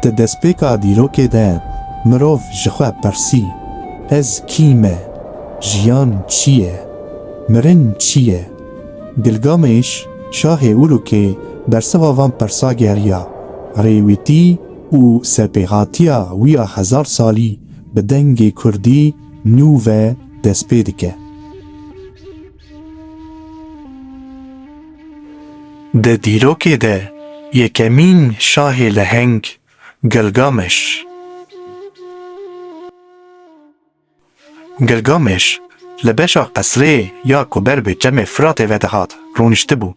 Di destpêka dîrokê de mirov ji xwe pirsî, Ez kî me? Jiyan çi ye? Mirin çi ye? Gilgamêş, şahê Urûkê bersiva van pirsa geriya, rêwîtî û serpêhatiya wî ya hezar salî bi dengê kurdî nû ve destpê dike. Di dîrokê de yekemîn şahê leheng Gilgameş. Gilgameş li beşa qesrê ya ku ber bi çemê Firatê ve dihat rûniştibû.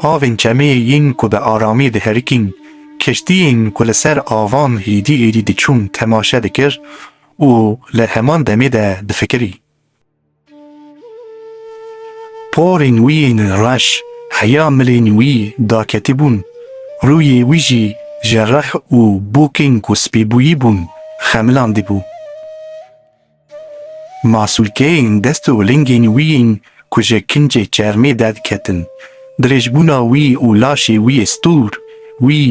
Avên çemê yên ku bi aramî diherikîn, keştiyên ku li ser avan êdî êdî diçûn temaşe dikir û li heman demê de difikirî. Porên wî yên reş heya milên wî daketibûn, rûyê wî jî ji rih û bûkên ku spî bûyîbûn xemilandibû. Masûlkeyên dest û lingên wî yên ku ji kincê çermê derdikitin, dirêjbûna wî û laşê wî yê stûr, wî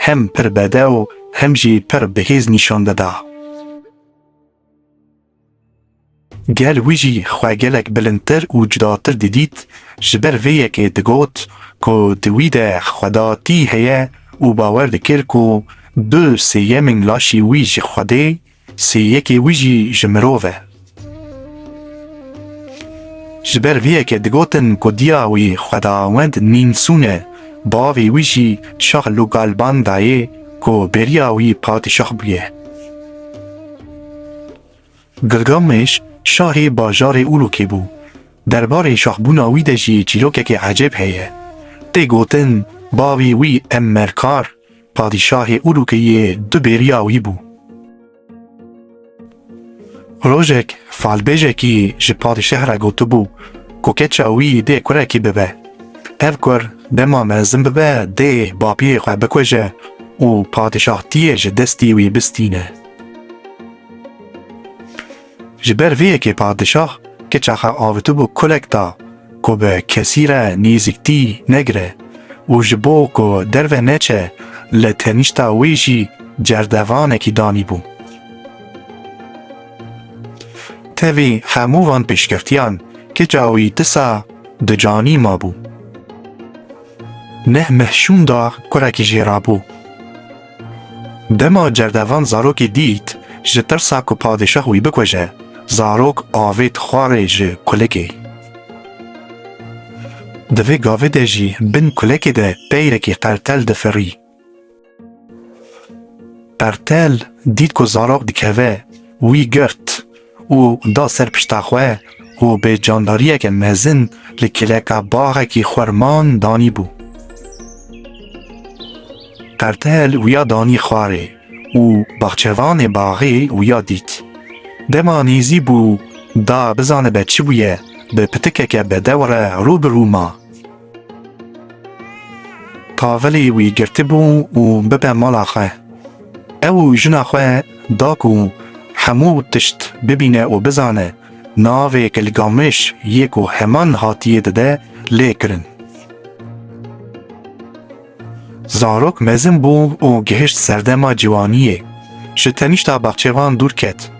hem pir bedew hem jî pir bihêz nîşan dida. Gel wî jî xwe gelek bilindtir û cudatir didît, ji ber vê yekê digot ku di wî de xwedatî heye û bawer dikir ku du sêyemên laşê wî ji Xwedê, sê yekê wî jî ji mirov e. Ji ber vê yekê digotin ku diya wî xwedawend Nînsûn e, bavê wî jî Şah Lugalbandayê, ku bêriya wî padîşah bûye. Gilgameş şahê bajarê Ûlûkê bû. Derbarê şahbûna wî de jî çîrokekî ecêb heye. Tê gotin bavê wî Emmerkar padîşahê Ûlûkê yê du bêriya wî bû. Rojek falbêjekî ji padîşeh re gotibû ku keça wî dê kurekî bibe. Ev kur dema mezin bibe dê bapiyê xwe bikuje û padîşahtiyê ji destî wî bistîne. Ji ber vê yekê padişah keça xwe avitibû kulek da ku bi kesî re nêzîktî negire û ji bo ku derve neçe li tenîşta wê jî cerdevanekî danîbû. Tevî hemû van pêşkevtiyan keça wî disa di canî mabû. Neh meh şûn da kurekî jê rabû. Dema cerdevan zarokê dît, ji tirsa ku padîşah wî bikuje, zarok avêt xwarê ji kulekê. Di vê gavê de jî bin kulekê de peyrekî qertel difirî. Qertel dît ku zarok dikeve, wî girt. û da ser pişta xwe û bê candariyeke mezin li kêleka baxekî xwerman danî bû. Qertel wiya danî xwarê û baxçevanê baxê wiya dît. Dema nêzî bû da bizanibe çi bûye, bi pitikeke bedew re rû bi rû ma. Kavilî wî girtibû û bibe mala xwe. Ew û jina xwe da ku hemû tişt bibîne û bizane, navê Gilgameş yê ku heman hatiyê dide lê kirin. Zarok mezin bû û gihişt serdema ciwaniyê. Ji tenişta baxçevan dûr ket.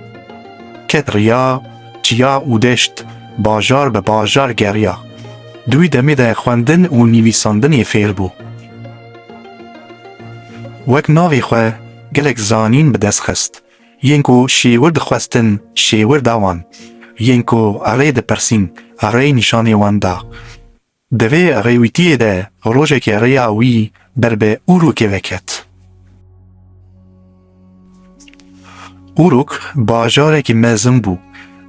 Ket riya çiya û deşt, bajar bi bajar geriya. Di wî demê de xwendin û nivîsandinê fêr bû. Wek navê xwe gelek zanîn bi dest xist. Yên ku şêwir dixwestin şêwir da wan. Yên ku erê dipirsîn erê nîşanê wan da. Di vê rêwîtiyê de rojekê rêya wî ber bi Urûkê ve ket. Urûk bajarekî mezin bû.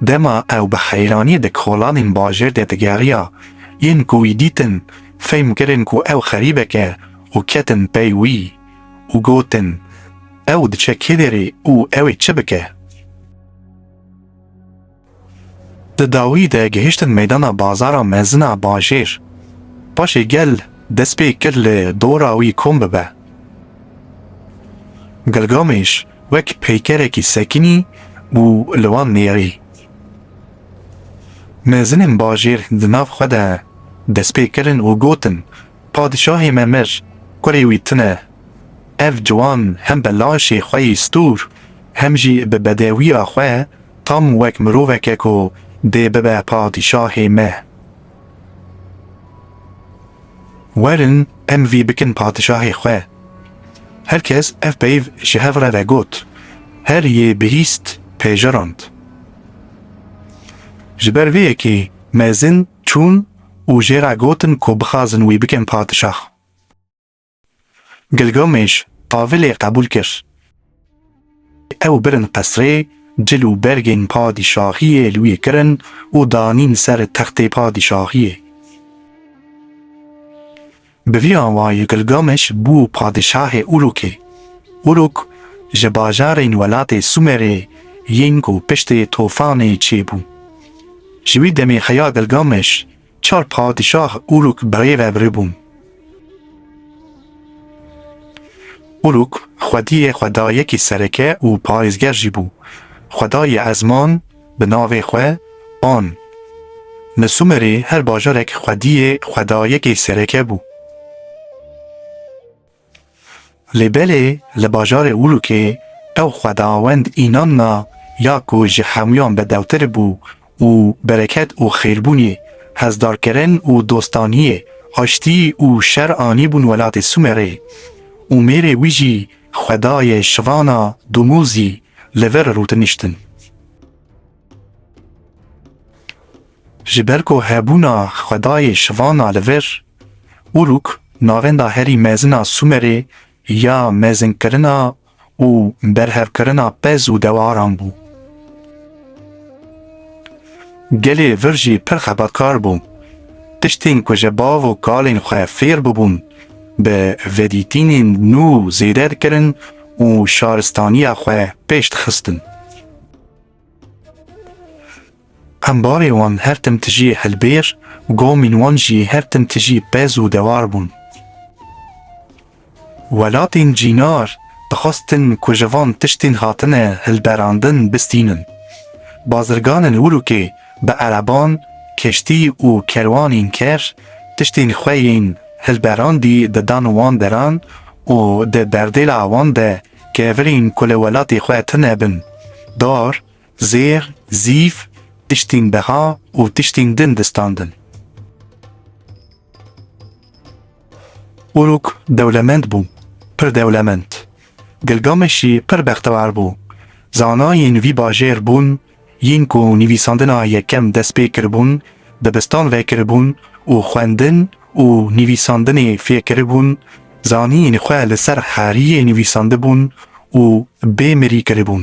Dema ew bi heyranî di kolanên bajêr de digeriya, yên ku wî dîtin fehm kirin ku ew xerîbek e û ketin pey wî û gotin, Ew diçe kê derê û ew ê çi bike? Di dawî de gihiştin meydana Bazara Mezin a Bajêr. Paşê gel dest pê kir li dora wî kom bibe. Gilgameş wek peykerekî sekinî û li wan nêrî. Mezinên bajêr di nav xwe de dest pê kirin û gotin, Padişahê me mir, kurê wî tune. Ev ciwan hem bi laşê xwe yî stûr hem jî bi bedewiya xwe Tam wek miroveke ku dê bibe padîşahê me. Werin em vî bikin padîşahê xwe. Her kes ev peyv ji hev re ve got, her yê bihîst pejirand. Ji ber vê yekê mezin çûn û jê re gotin ku bixwazin wî bikin padîşah. Gilgameş tavilê qebûl kir. Ew birin qesrê, cil û bergên padîşahiyê li wî kirin û danîn ser textê padîşahiyê. Bi vî awayî Gilgameş bû padîşahê Urûkê. Urûk ji bajarên welatê Sûmerê yên ku piştî Tofanê çêbû. Ji wî demê heya Gilgameş Çar padîşah Uruk birê ve birê bûn. Uruk xwediyê xwedayekî sereke û parêzger jî bû. Xwedayê ezman bi navê xwe Pan. Li Sumerê her bajarek xwediyê xwedayekê sereke bû. Lê belê li bajarê Ulûkê ew xwedawend înan na ya ku ji hemûyan bedewtir bû û bereket û xêrbûnê, hezdarkirin û dostaniyê, aştî û şer anîbûn welatê Sûmerê û mêrê wî jî xwedayê şivana Dumûzî li vir rûtiniştin. Ji ber ku hebûna xwedayê şivana li vir, Uruk navenda herî mezin a Sûmerê ya mezinkirina û berhevkirina pez û dewaran bû. Gelê vir jî pir xebatkar bû. Tiştên ku ji bav û kalên xwe fêr bûbûn, bi vedîtînên nû zêde dikirin û şaristaniya xwe pêş dixistin. Qembarê wan her tim tijî hilbêr û gomîn wan jî her tim tijî pez û dewar bûn. Welatên cînar dixwestin ku ji van tiştên hatine hilberandin bistînin. Bazirganên Urûkê bi ereban, keştî û kerwanên ker tiştên xwe yên hilberandî didan wan deran û di berdêla wan de kevirîn ku li welatê xwe tune bin, dar, zêr, zîv, tiştîn beha û tiştîn din distandin. Uruk dewlemend bû, pir dewlemend. Gilgameşî pir bextewar bû. Zanayên vî bajêr bûn Yên ku nivîsandina yekem dest pê kiribûn, dibistan vekiribûn û xwendin û nivîsandinê fêr kiribûn, zanîn xwe li ser heriyê nivîsandibûn û bê mirî kiribûn.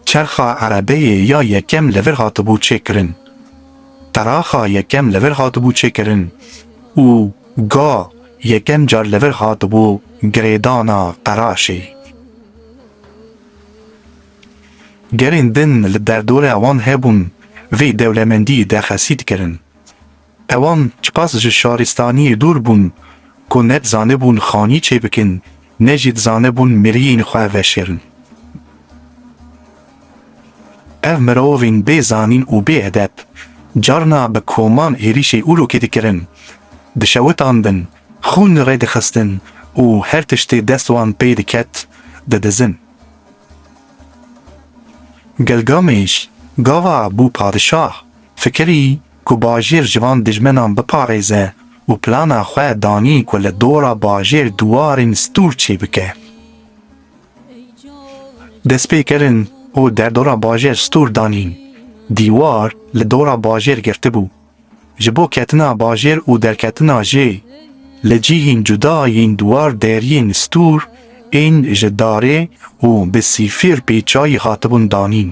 Çerxa erebeyê ya yekem li vir hatibû çêkirin, qeraxa yekem li vir hatibû çêkirin û ga yekem car li vir hatibû girêdana qeraşê. Gelên din li derdora wan hebûn vê dewlemendiyê derxesî dikirin. Ewan çiqas ji şaristaniyê dûr bûn ku ne dizanibûn xanî çêbikin ne jî dizanibûn miriyên xwe veşêrin. Ev mirovên bê zanîn û bê edeb carna bi koman êrîşê Urûkê dikirin, dişewitandin, Xûn li rê dixistin û her tiştê dest wan pê diket didizin. Gilgameş gava bû padişah, fikirî ku bajêr ji van dijmenan biparêze û plana xwe danî ku li dora bajêr diwarên stûr çêbike. Destpêkirin û derdora bajêr stûr danîn, dîwar li dora bajêr girtibû. Ji bo ketina bajêr û derketina jê li cihên cuda yên dwar deriyên stûr ên ji darê û bi sîfir pê çayî hatibûn danîn.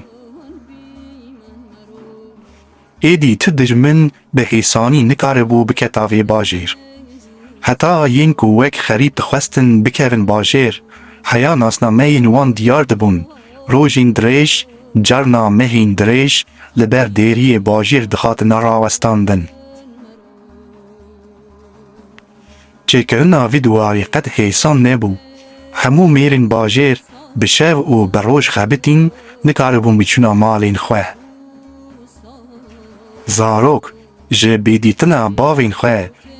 Êdî tu dijmin bi hêsanî nikaribû biketa vê bajêr. Heta yên ku wek xerîb dixwestin bikevin bajêr, heya nasnameyên wan diyar dibûn Rojên dirêj, carna mehên dirêj li ber dêriyê bajêr dihatine rawestandin. Çêkirina vî duwarî qet hêsan nebû. Hemû mêrên bajêr bi şev û bi roj xebitîn nikaribûn biçûna malên xwe. Zarok ji bêdîtina bavên xwe,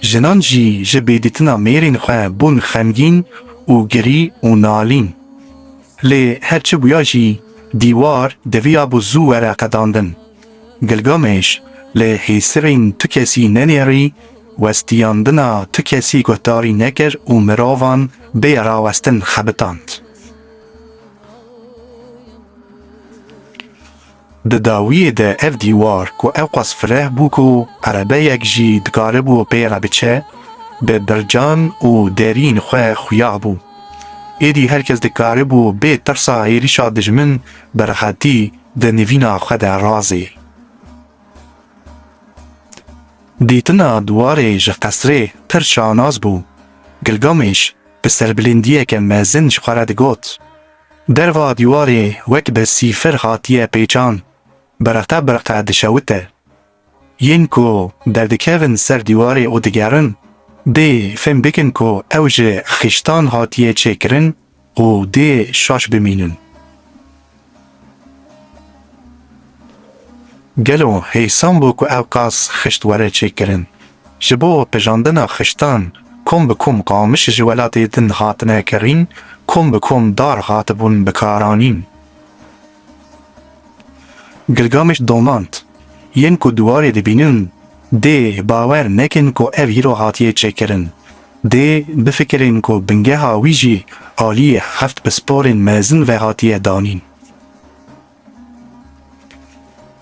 jinan jî ji bêdîtina mêrên xwe bûn xemgîn û girî û nalîn. Lê her çi bûya jî dîwar diviya bû zû were qedandin. Gilgamêş li hêsirên tu kesî nenêrî, westiyandina tu kesî guhdarî nekir û mirovan bê rawestin xebitand. Di dawiyê de ev dîwar ku ewqas fireh bû ku erebeyek jî dikaribû pê re biçe, bi bircan û derîn xwe xuya bû. Êdî her kes dikaribû bê tirsa hêrişa dijmin bi rehetî di nivîna xwe de razê. Dîtina diwarê ji qesrê pir şanas bû. Gilgameş bi serbilindiyeke mezin ji xwe re digot. Derva dîwarê wek bi sîfir hatiye pêçan, bereqe bereqe dişewite. Yên ku derdikevin ser dîwarê û digerin, dê fêm bikin ku ew ji xiştan hatiye çêkirin û dê şaş bimînin. Gelo hêsan bû ku ew qas xişt were çêkirin Ji bo pejandina xiştan kom bi kom qamiş ji welatê din hatine kirîn, kom bi kom dar hatibûn bikaranîn. Gilgameş domand, Yên ku diwarê dibînin dê bawer nekin ku ev îro hatiye çêkirin. Dê bifikirên ku bingeha wî jî aliyê heft pisporên mezin ve hatiye danîn.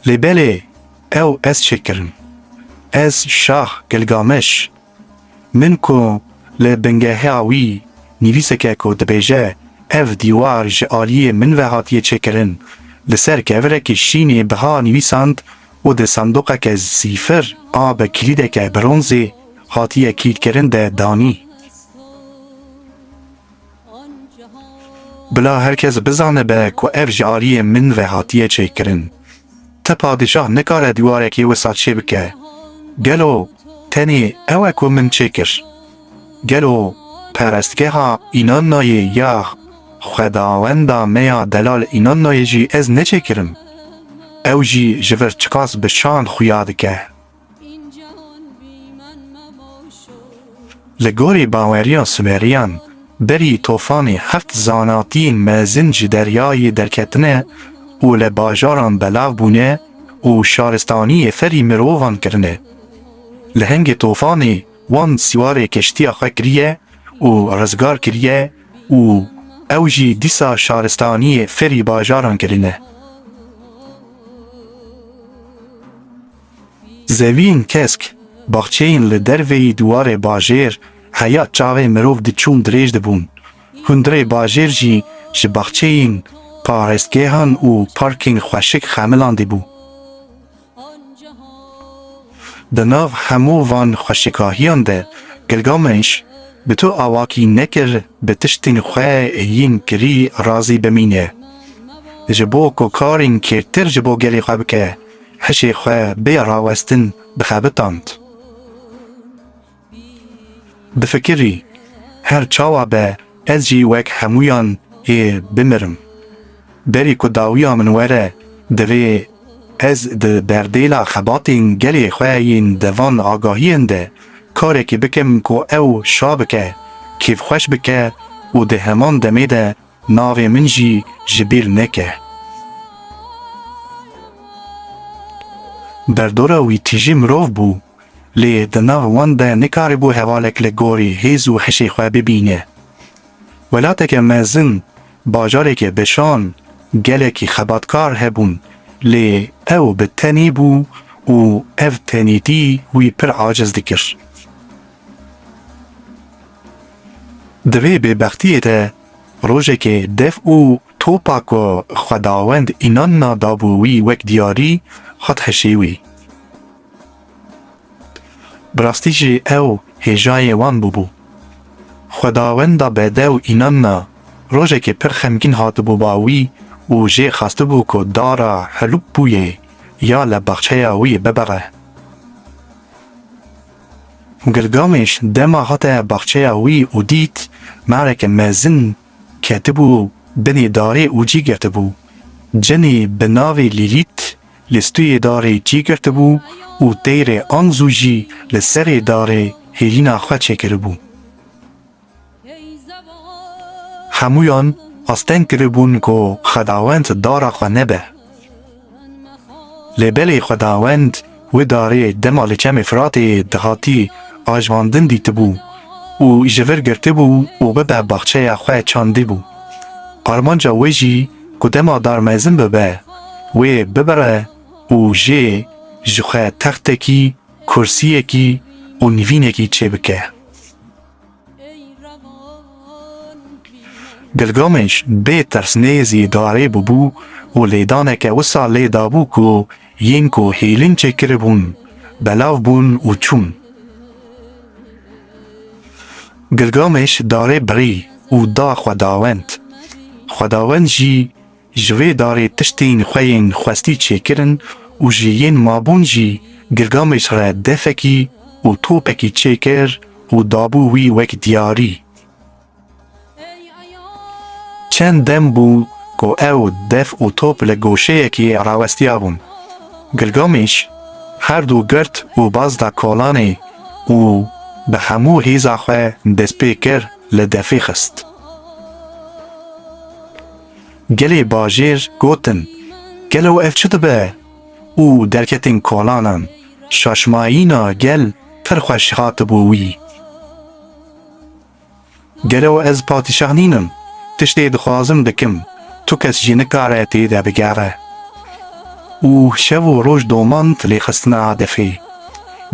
Lê belê ew ez çêkirin. Ez Şah Gilgameş min ku li bingeha wî nivîseke ku dibêje ev dîwar ji aliyê min ve hatiye çêkirin li ser kevirekî şînê biha nivîsand û di sandoqeke zîfir a bi kilîdeke bronzê hatiye kilîdkirin de danî. Bila her kes bizanibe ku ev ji aliyê min ve hatiye çêkirin. Ti padîşah nikare dîwarekî wisa çê bike. Gelo tenê ew e ku min çê kir? Gelo perestgeha Inannoyê ya xwedawenda me ya Delal Inannoyê jî ez neçêkirim? Ew jî ji vir çiqas bi şan xuya dike. Li gorî baweriya Sumerîyan berî tofanê heft zanatiyên mezin ji deryayê derketine û li bajaran belav bûne û şaristaniyê ferî mirovan kirine. Li hingê tofanê wan siwarê keştiya xwe kiriye û rizgar kiriye û ew jî dîsa şaristaniyê ferî bajaran kirine. Zevîn kesk, baxçeyên li derveyî dûwarê bajêr heya çavê mirov diçûn dirêj dibûn. Hundirê bajêr jî ji baxçeyên, parestgehan û parkên xweşik xemilandî bû. Di nav hemû van xweşikahiyan de Gilgameş bi tu awakî nekir bi tiştên xwe yên kirî razî bimîne. Ji bo ku karên kêrtir ji bo gelê xwe bike, Hişê xwe bêya rawestin dixebitand. Difikirî, Her çawa be ez jî wek hemûyan ê bimirim. Berî ku dawiya min were divê ez di berdêla xebatên gelê xwe yên di van agahiyên de karekê bikim ku ew şa bike, kêfxweş bike û di heman demê de Navê min jî ji bîr neke. Berdora wî tîjî mirov bû, lê di nav wan de nikaribû hevalek li gorî hêz û hişê xwe bibîne. Welateke mezin, bajarekê bişan, gelekî xebatkar hebûn, lê ew bi tenî bû û ev tenîtî wî pir aciz dikir. Di vê bêbextiyê de rojekê dev û topa ku Xwedawend înan na dabû wî wek diyarî hat hişê wî. Bi rastî jî ew hêjayê wan bûbû. Xwedawenda bedew înan na rojekê pir xemgîn hatibû ba wî û jê xwestibû ku dara Helûpbûyê ya li baxçeya wî bibire. Gilgameş dema hate baxçeya wî û dît mareke mezin ketibû binê darê û cî girtibû. Cinê bi navê Lîlît li stûyê darê cî girtibû û teyre Anzû jî li serê darê hêlîna xwe çêkiribû. Hemûyan asteng kiribûn ku Xwedawend dara xwe nebe. Lê belê Xwedawend wê darê dema li Çemê Firatê dihatî ajvandin dîtibû û ji vir girtibû û bibe baxçeya xwe çandibû. Armanca wê jî ku dema dar mezin bibe, wê bibire û jê ji xwe textekî, kursiyekî û nivînekî çêbike. Gilgameş bê tirsnêzî darê bûbû û lêdaneke wisa lê dabû ku yên ku hêlin çêkiribûn belav bûn û çûn. Gilgameş darê birî û da xwedawend. Xwedawend jî. Ji vê darê tiştên xwe yên xwestî çêkirin û ji yên mabûn jî Gilgameş re defekî û topekî çêkir û dabû wî wek diyarî. Çend dem bû ku ew def û top li goşeyekê rawestiyabûn. Gilgameş her du girt û baz da kolanê û bi hemû hêza xwe destpê kir li defê xist. Gelê bajêr gotin, Gelo ev çi dibe? û derketin kolanan. Şaşmayîna gel pir xweş hatibû wî. Gelo ez patîşah nînim, tiştê dixwazim dikim, tu kes jî nikare tê de bigere. Û şev û roj domand lê xistina hedefê.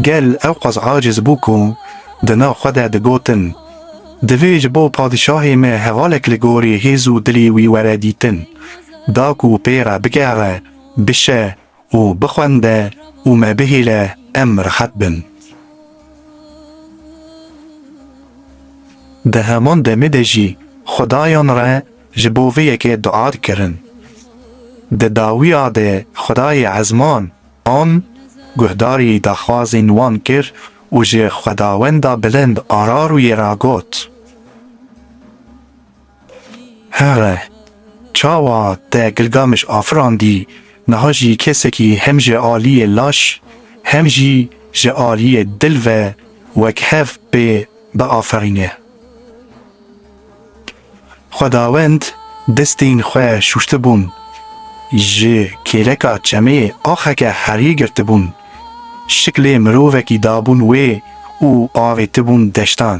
Gel ewqas aciz bû ku di nav xwe de digotin. Divê ji bo padîşahê me hevalek li gorî hêz û dilê wî were dîtin. Da ku pê re bigere, bişe û bixwende û me bihêle em rehet bin. Di heman demê de jî xudayan re ji bo vê yekê dua dikirin. Di dawiya de xudayê ezman an guhdarî daxwazên wan kir û ji Xwedawenda Bilind Ararûyê re got, Here, çawa te Gilgamiş afirandî, niha jî kesekî hem ji aliyê laş hem jî ji aliyê dil ve wek hev pê biaferîne. Xwedawend destên xwe şûştibûn, ji kêleka çemê axeke herî girtibûn, şiklê mirovekî dabûn wê û avêtibûn deştan.